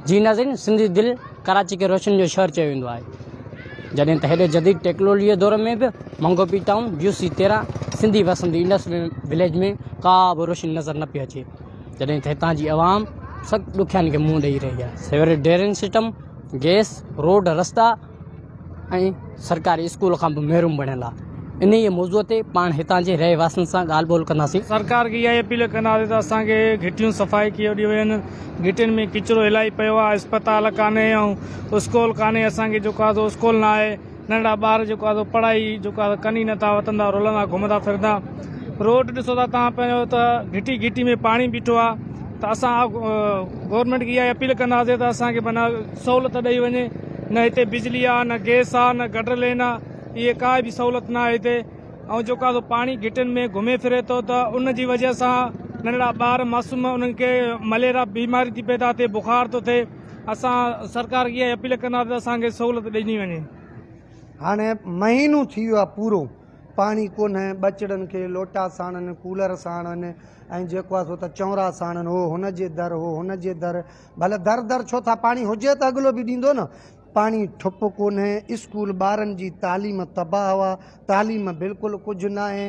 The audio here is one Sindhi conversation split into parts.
جي ناظرين سنڌي دل ڪراچي کي روشن جو شهر چيو ويندو آهي جڏهن ته هيڏي جديد ٽيڪلوليء دور ۾ به منگو پي ٽائون جيو سي تيرهن سنڌي وسندي انڊس وليج ۾ ڪا به روشني نظر نه پي اچي جڏهن ته هتان جي عوام سخت ڏکيائين کي منهن ڏئي رهي آهي sewerage drainage system gas road رستا ۽ سرڪاري اسڪول کان به محروم بڻيل آ انهيء موضوع تي پاڻ هتان جي رهي واسين سان ڳالهه ٻولهه ڪنداسين. سرڪار کي اها ئي اپيل ڪنداسين ته اسان کي گهٽيون صفائي ڪيو ڏيو وين گهٽين ۾ ڪچرو الائي پيو آ اسپتال ڪانهي ۽ اسڪول ڪانهي اسان کي جيڪو آ سو اسڪول نه آهي ننڍڙا ٻار جيڪو آ سو پڙهائي جيڪو آ سو ڪن ئي نه ٿا وتن ٿا رولندا گهمندا ڦرندا روڊ ڏسو ٿا توهان پنهنجو ته گهٽي گهٽي ۾ پاڻي بيٺو آ ته اسان گورنمينٽ کي اها اپيل ڪنداسين ته اسان کي معنيٰ سهولت ڏئي وڃي نه هتي بجلي آهي نه گيس آهي نه گٽر لين آهي اهي ڪا به سهولت نه آهي هتي ۽ جيڪو آهي پاڻي گهٽين ۾ گهمي ڦري ٿو ته ان جي وجه سان ننڍڙا ٻار معصوم انهن کي مليرا بيماري ٿي پيدا ٿئي بخار ٿو ٿئي اسان سرڪار کي اها اپيل ڪنداسين ته اسان کي سهولت ڏني وڃي هاڻي مهينو ٿي ويو آهي پورو پاڻي ڪونهي ٻچڙن کي لوٽا ساڻن ڪولر ساڻن ۽ جيڪو آهي سو ته چونرا ساڻن هو، هن جي در هو، هن جي در. ڀل در در ڇو ٿا، پاڻي هجي ته اڳلو به ڏيندو نه. پاڻي ٺپ ڪونهي، اسڪول ٻارن جي تعليم تباهه هئا، تعليم بلڪل ڪجهه ناهي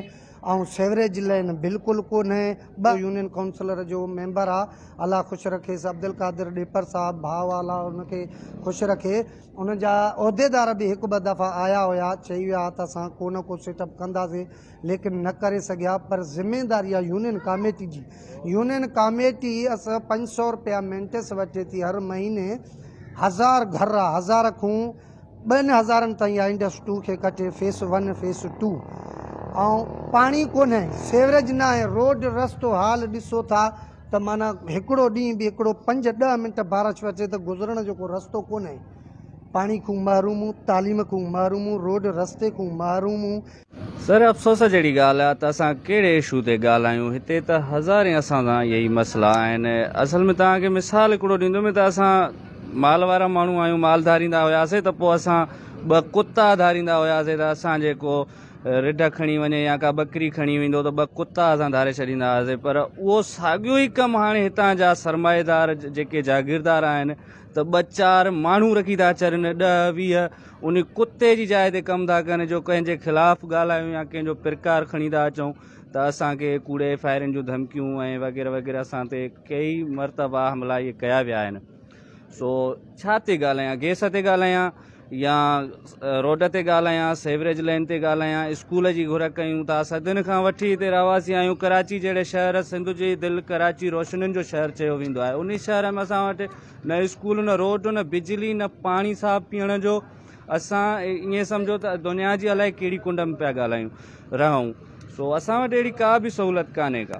۽ سيوريج لئن بلڪل ڪونهي. ٻه. يونين ڪائونسلر جو ميمبر آ، الله خوش رکيس، عبدالقادر ڏيپر صاحب ڀاء آ، الله ان کي خوش رکي. ان جا عهديدار به هڪ ٻه دفعا آيا هيا، چئي ويا ها ته اسان ڪو نه ڪو سيٽ اپ ڪنداسين. ليڪن نه ڪري سگهيا پر ذميداري آهي يونين ڪاميٽي جي يونين ڪاميٽي اس پنج سو روپيا مينٽس وٺي ٿي هر مهيني هزار گهر آ هزار کون ٻن هزارن تائين آ انڊس ٽو کي ڪٽي فيس ون فيس ٽو ۽ پاڻي ڪونه سيورج نه آهي روڊ رستو حال ڏسو ٿا ته مانا هڪڙو ڏينهن به هڪڙو پنج ڏه منٽ بارش اچي ته گذرڻ جو ڪو رستو ڪونه پاڻي کون محروم تعليم کون محروم روڊ رستي کون محروم سر افسوس جهڙي ڳالهه آهي ته اسان ڪهڙي اشو تي ڳالهايون هتي ته هزارين اسان سان اهي ئي مسئلا آهن اصل ۾ توهان کي مثال هڪڙو ڏيندوم ته اسان مال وارا ماڻهو آهيون مال ڌاريندا هياسين ته پوء اسان ٻه ڪتا ڌاريندا هياسين ته اسان جي ڪو رڍ کڻي وڃي يا ڪا ٻڪري کڻي ويندو ته ٻه ڪتا اسان ڌاري ڇڏيندا هياسين پر اهو ساڳيو ئي ڪم هاڻي هتان جا سرمائيدار جيڪي جاگيردار آهن ته ٻه چار ماڻهو رکي ٿا ڇڏن، ڏهه ويهه ان ڪتي جي جاء تي ڪم ٿا ڪن، جو ڪنهن جي خلاف ڳالهايون يا ڪنهن جو پرڪار کڻي ٿا اچون ته اسان کي ڪوڙي فائرنگ جون ڌمڪيون ۽ وغيره وغيره اسان تي ڪيئي مرتبا حملا اهي ڪيا ويا آهن سو ڇا تي ڳالهايان گيس تي ڳالهايان. يا روڊ تي ڳالهايان، سيوريج لائين تي ڳالهايان، اسڪول جي گهر ڪيون ٿا، صدين کان وٺي هتي رهواسي آهيون، ڪراچي جهڙي شهر سنڌ جي دل ڪراچي روشنين جو شهر چيو ويندو آهي، انهي شهر ۾ اسان وٽ نه اسڪول نه روڊ نه بجلي نه پاڻي صاف پيئڻ جو، اسان ائين سمجهو ته دنيا جي الائي ڪهڙي ڪنڊ ۾ پيا ڳالهايون رهون، سو اسان وٽ اهڙي ڪا به سهولت ڪانهي ڪا.